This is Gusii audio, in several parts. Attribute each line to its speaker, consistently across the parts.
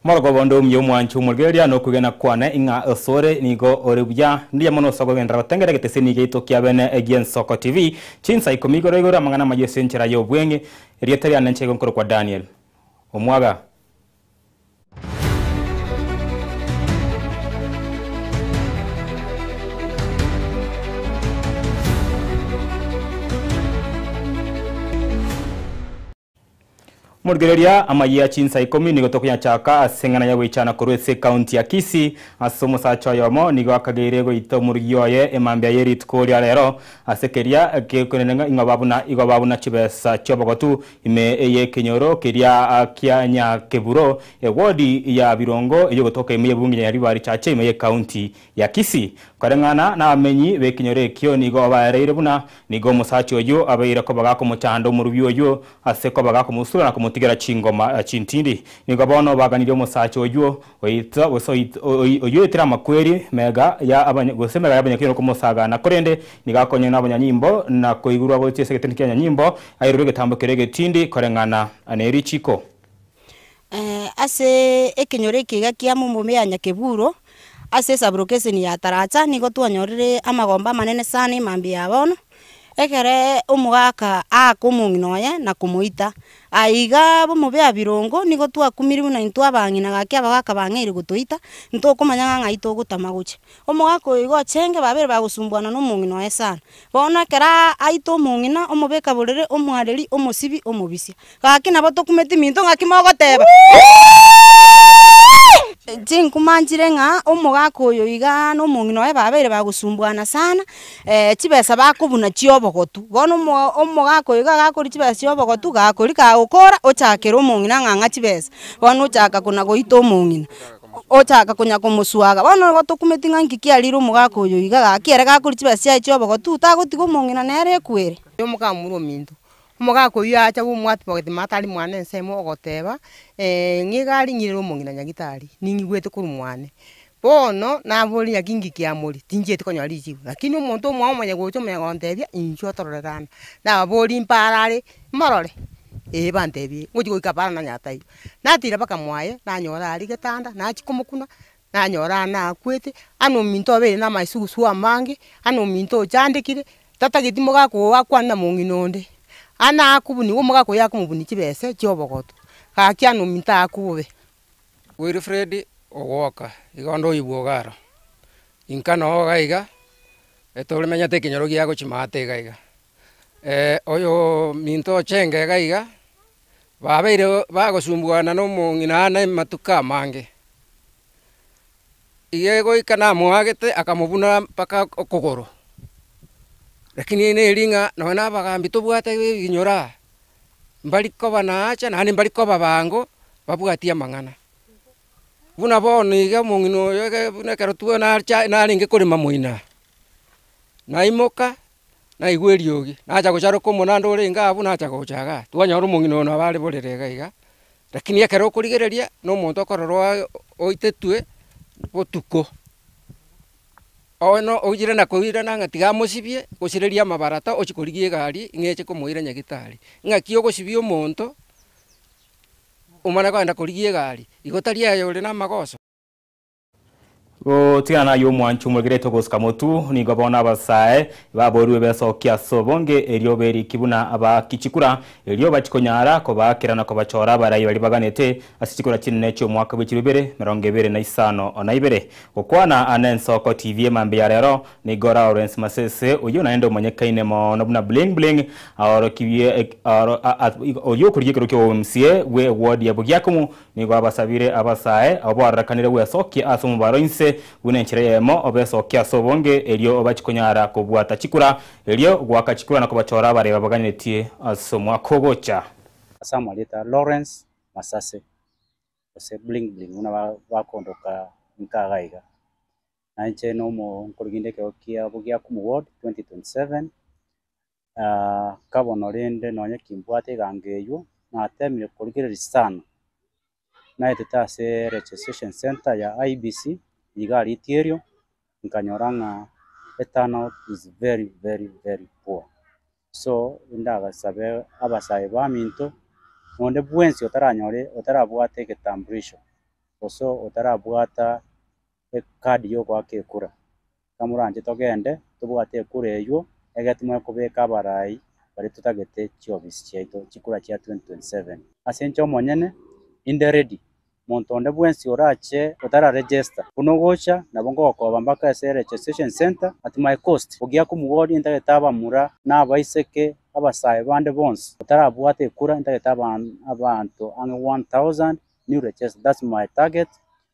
Speaker 1: Omoroko obo onde omuya omwancho omorigereria nokogena kwane, ing'a osore nigo ore buya. Mbuya mono ase okogenderera gotengera egeteseni giaito kia bene egie Nsoko TV. Chinsa ikomi igoro igoro amang'ana amaya ase enchera y'obweng'e. Erieta riane inche igo nkorokwa Daniel Omwaga. Morigereria, amayia chinsa ikomi nigo tokonyachaaka ase eng'ana ya goichana korwa ase ekaunti ya Kisii. Ase omosacha oyomo nigo akageire goita omorigi oye emambia ye rituko ria rero, ase keria ekekonenena ing'oba buna igobaa buna chibesa chi'obogotu Ime ey'ekenyoro keria kia Nyakeburo, ewodi ya Birongo ey'ogotoka ime y'ebunge ya River Richache ime y'ekaunti ya Kisii. Koreng'ana n'abamenyi b'ekenyoro ekio nigo baereire buna nigo omosacha oyio abeire koba gakomochanda omorubi oyio ase koba gakomosura na komotigera chingoma chintindi. Nigo bono baganirie omosacha oyio Oito, gose oit, oi, oyio oitire amakweri mega ya abanya, gose mega y'abanyakweri n'okomosagana, korende nigo akonywa n'abanyanyimbo, na koigurwa gochia ase egeteni ki'abanyanyimbo, airure egetambo keria egetindi koreng'ana nerichiko. Ase
Speaker 2: ekenyoro ekiga kia mombomi ya Nyakeburo, ase esaburokeseni ya Taracha, nigo twanyorire amagombe amanene sana emambia ya bono, Ekero omogaka aaka omong'ina oye na komoita, aye iga bomobe abirongo, nigo twakumirwe na intwe abang'ina gaki abagaka bang'eire gotoita, ntokomanya ng'a ng'ai togotama gocha. Omogaka oyo iga ochenge babere bagosumbuana na omong'ina oye sana. Bono ekero aita omong'ina, omobe kaborere, omwareri, omosibi, omobisia. Gaki nabo tokumeti minto ng'aki mogoteba? Chinkuma nchire ng'a omogaka oyo igaa nomong'ina oye babeire bagosumbuana sana, chibesa bakobuna chia obogotu, bono omo omogaka oyo iga gakoria chibesa chia obogotu gakoria kagokora ochakera omong'ina ng'ang'a chibesa, bono ochaka kona goita omong'ina, ochaka konya komoswaga, bono igo tokumeti ng'a nki kiarire omogaka oyo iga gaki ere gakoria chibesa chiaye chia obogotu tagotiga omong'ina nere ekwere. Omogaka muru ominto.
Speaker 3: Omogaka oyio aacha gomoapi bagoteema atari mwane ensemo, ogoteeba, Nigo arinyirere omong'ina nyagitari, ning'igwete korwa mwane. Bono naboorire ng'aki ng'iki kiamori, tinchieti konyora richibu. Lakini omonto omwabo omonye gocha omonye gonteebia, inchuo otororerana. Nababorie mpaaro are, morore? Ee banteebie, ngochi goika paaro nanyara taiyo. Natira mpaka mwaye, nanyora aria getanda, nachia komokuna. nanyora aane akwete, aane ominto obeire na amaesugusu amange, aane ominto ochandekire, tatageti mogaka oo akwane na mong'ina onde, aane akobuni igo omogaka oyio akomobunia chibesa echio obogoto, gaki aane ominto aakwe bobe. Wilfred
Speaker 4: ogwoka iga onde oyobwo iga aro, inka noo iga iga, etore menyete ekenyoro giago chimata iga iga. Oyominto oche engega iga, babeire bagosumbugana nomong'ina aane amatuko amange. Iga goika namoagete akamobuna mpaka okogoro. Rakini neri ng'a nonya na abagambi tobwate ebinyora aa, mbari koba naacha naende mbari koba abango babwatie amang'ana. Buna bono iga omong'ina oyo buna ekero narenge korema moino aa, naimoka Naigwa eriogi, nacha gocharoka omonanda orenge abwo, nacha gocha iga. Twanyora omong'ina oyo nabo are borere iga iga, rakini ekero okorigereria na omonto okorora oa- oitetwe botuko, oino oire na koirana ng'a tiga amosibie, gosireria amabarata ochie korigia egari ng'a eche komoira nyagitari. Ng'aki ogosibia omonto, omana kogenda korigia egari, igo tari aye ore na amagoso. Gotigana
Speaker 1: nayio omwancho omwegerete ogosika motu, nigo bono abasae baboorigwe besokie ase obonge, erio berikie buna abaaki chikura, erio bache konyara kobaakera na kobachora abarai baria baganete ase chikura chinene chi'omwaka bw'echiro ibere, emerongo ebere na isano na ibere. Gokwana aa n'Ensoko TV emambia ya rero, nigo Lawrence Masese, oyio naende omanyekaine mono buna Bling Bling, aorokirie oyio okorigia ekerogo ki'obomca bw'ewodi ya Bugiakomu Nigo abasabire abasae, oboarorekanire bwesokie ase omobaro inse buna enchera eyemo, obesokie ase obonge, erio obache konyara kobwata chikura, erio goaka chikura na kobachora abare babaganetie ase omwaka ogocha. Ase amarieta
Speaker 5: Lawrence Masase gose Bling Bling buna bakondoka inka iga iga, nainche nomo nkorwa kende ekero kia Bogiakumu Ward 2027 kabono rende nonye kimbwate egango eyio, natemire korigereria sana, naetete ase registration centre ya IEBC, iga rieto erio, nkanyora ng'a eturnout is very very very poor. So ndagasabe abasayi baminto, onde bwensi otaranyore otarabwate egetambulisho, gose otarabwata. ekaadi y'ogoaka ekura. Ekero moranche togende tobwate ekura eywo, egere timanye kobeka abarai baria totagete chiofisi chiaito chikura chia 2027. Ase inche omonyene, inde ready. Monto onde bwensi orache otara register, buna ogocha nabo ngogokoba mpaka ase registration centre at my cost. Ogia komugoria intagete abamura na abaiseke abasae bande bonsi otarabwate ekura intagete abanto ang'e 1000 new register that's my target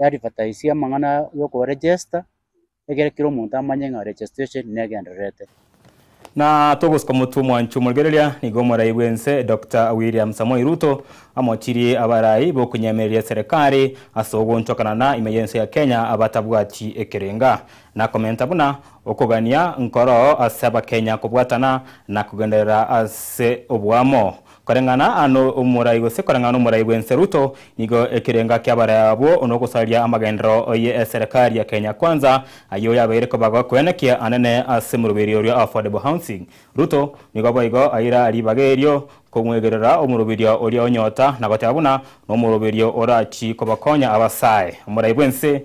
Speaker 5: Yaadvertisie amang'ana y'okoregesta, egere kera omonto amanye ng'a registration negendererete. Na
Speaker 1: togosuka motwe mwancha omorigereria nigo omorai bw'ense Doctor William Samoei Ruto amochirie abarai b'okonyemereria eserekari ase ogoonchokana na ime y'ense ya Kenya abatabwati ekerenga, na komenta buna okogania nkoro ase Abakenya kobwatana na kogenderera ase oboamo Koreng'ana ano omorai gose koreng'ana omorai bw'ense Ruto nigo ekerenga ki'abarai abwo nogosaria amagenderero ye eserekari ya Kenya Kwanza ayio yabeire kobagoa kwenekia anene ase moruberi oria o affordable housing. Ruto nigo boigo aira ribaga erio komwegerera omorubirio oria onyota na goteba buna nomoroberio orachi kobakonya abasae omorai bw'ense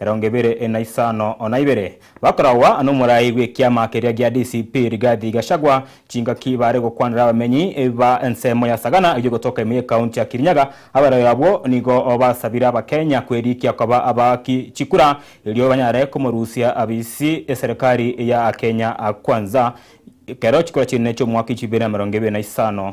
Speaker 1: Erongo ebere na isano na ibere bakoragwa nomorai bw'ekiama keria gia DCP Rigathi Gachagua chingaki baare gokwanera abamenyi ba ensemo ya Sagana eyio gotoka ime y'ekaunti ya Kirinyaga abarwori abwo nigo basabire abakenya kwerikia koba abaaki chikura erio banyare komorusia abisi eserikari ya Kenya Kwanza ekero chikura chi'enene chi'omwaka 2025.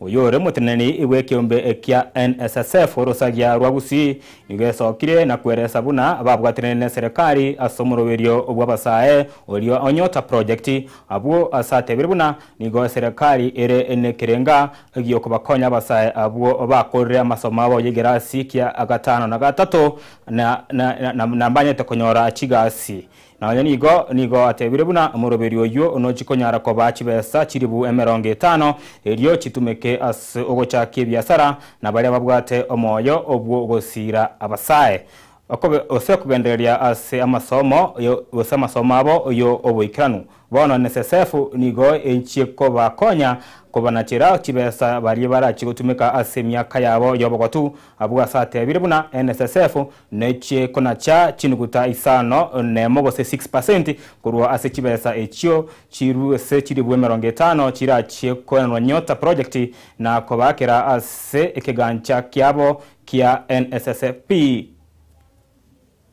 Speaker 1: Oyore moteneneri bw'ekeombe ekia NSSF orosagia rwa Gusii nigo esokire na kweresa buna ababwatanire neserekari ase omoroberio bw'abasae oria o Nyota Project, abwo ase atebire buna nigo eserekari ere nekerenga giokobakonya abasae abwo bakorire amasomo abo yegerasi kia gatano na gatato na mbanyete konyora chigasi. Na onye nigo, nigo atebire buna omoroberi oyio nochi konyara koba chibesa chiribu emerongo etano, erio chitumeke ase ogochakia ebiasara na baria babwate omoyo obwo gosiira abasae, okobe, gose kogendereria ase amasomo, gose amasomo abo yo oboikeranu. Bono nesesefu nigo enchie kobakonya kobanachera chibesa baria barachie gotumeka ase emiaka yabo y'obogotu. Abwo asatebiire buna enesesefu nechie konacha chinuguta isano nemo gose six percent korwa ase chibesa echio chirue ase chiribu emerongo etano chirachie koenanwa Nyota Project na kobaakera ase ekegancha kiabo kia NSSF.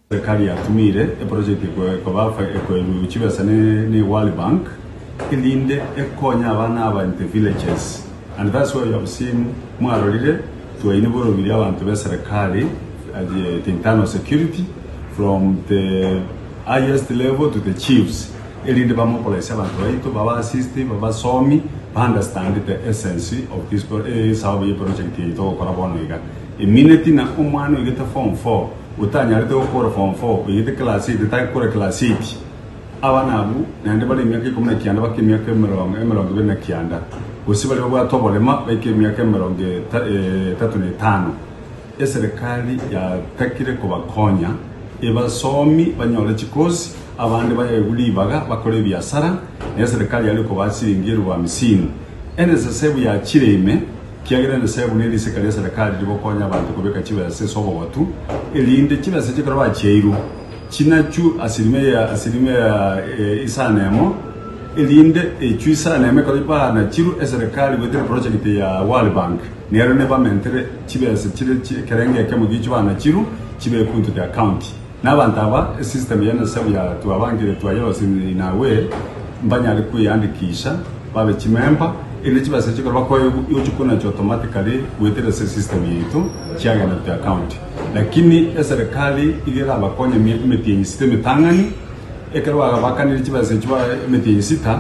Speaker 6: Serikali yatumire eprojekti eye ekoba ekoebu chibesa ne World Bank erinde ekonye abana aba in the villages and that's why you have seen mwarorire twaine borobirie abanto be serikali at the internal security from the highest level to the chiefs erinde bamobilize abanto baito baba assist babasomi ba understand the essence of this esababu ye project eye togokora bono iga emineti na omwana oigete form four otanyarete gokora form four oigete class eight otagekora class eight abana abwo naende bare emiaka ikomi na kianda bake emiaka emerongo emerongo ibere na kianda gose bare babwate oborema baike emiaka emerongo eta- eh, etato na etano eserekari yatakire kobakonya ebasomi banyore chikosi abande baegwe ribaga bakore ebiasara na eserekari yare kobaha siringi elubu hamisini NSSF yachire ime Kiagera emesebu ne risika ria serekari rigokonya abanto kobeka chibesa ase obogotu, erinde chibesa chikero bachiairwe chinachwe asilimia ya asilimia ya isano na emo, erinde echwe isano na emo ekero baanachirwe eserekari goetera eprojekiti ya World Bank, nero nebamentere chibesa chire ekerengo ekemo gichwe baanachirwe chibekwe into the account. Nabanto aba, esystem ya Nyasae bia twabangire twayorosereria inawe, mbanyare kweyandikisha babe chimemba, erinde chibase chikore bakoe gochia konachi automatically goetera ase esystem yaito chiagenda gochia account. Lakini eserekari iga erabakonye ime- emetienyi sita emetang'ani, ekero bagabakanire chibesa echio ba- emetienyi sita,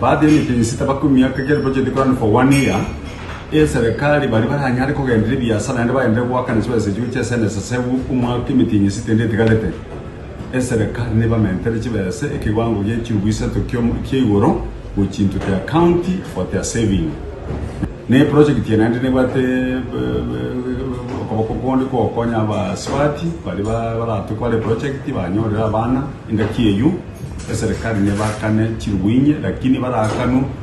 Speaker 6: baadire emetienyi sita bakumia, kegere project ekorane for one year, eserekari baria baranyare kogenderera ebiasara naende bagenderere goakana chibesa echibo chia esende esasebu omwaka emitinyi esita ende etigarete, eserekari nebamentere chibesa ekewango gie chiubu isato kiomo kia igoro gochia into their county for their saving. Na eprojekiti eye naende nebwate okoboko konde kogokonya abasubati baria ba- baratwe kobara eprojekiti banyorere abana engaki eyio eserekari nebakane chirubu inye lakini baraakanu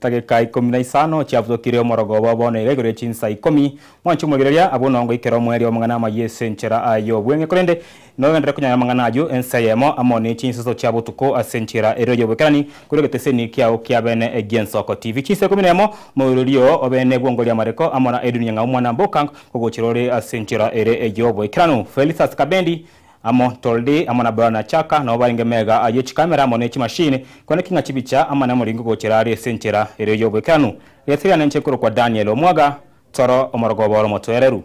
Speaker 6: Tageka ikomi
Speaker 1: na isano chiabutokire omorogoba, bono iga igoro ye chinsa ikomi, mwanche omoigereria, abwo nongo goikera omwerio amang'ana amayio ase enchera aye y'obweng'e, korende nogenderere konyaya amang'ana ayio ensa eyemo amo ne chinseso chia botuko ase enchera erio y'oboikerani, korwa egeteseni kiao kia bene egi'ensoko TV. Chinsa ikomi na emo, moirorio oo obe nebwongori amareko amo na edunia ng'a omwana mbokang kogochera ore ase enchera ere ey'oboikeranu. Felistas Kabendi. Amo Toldi, amo na Bran na Chaka nao barenge mega ayio chikamera amo ne chimashini, kone king'a chibicha amane moringo gochera aria ase enchera erio y'oboikeranu. Rieta riane inche nkorokwa Daniel omwaga, Toro, omorogoba ore omotwereru.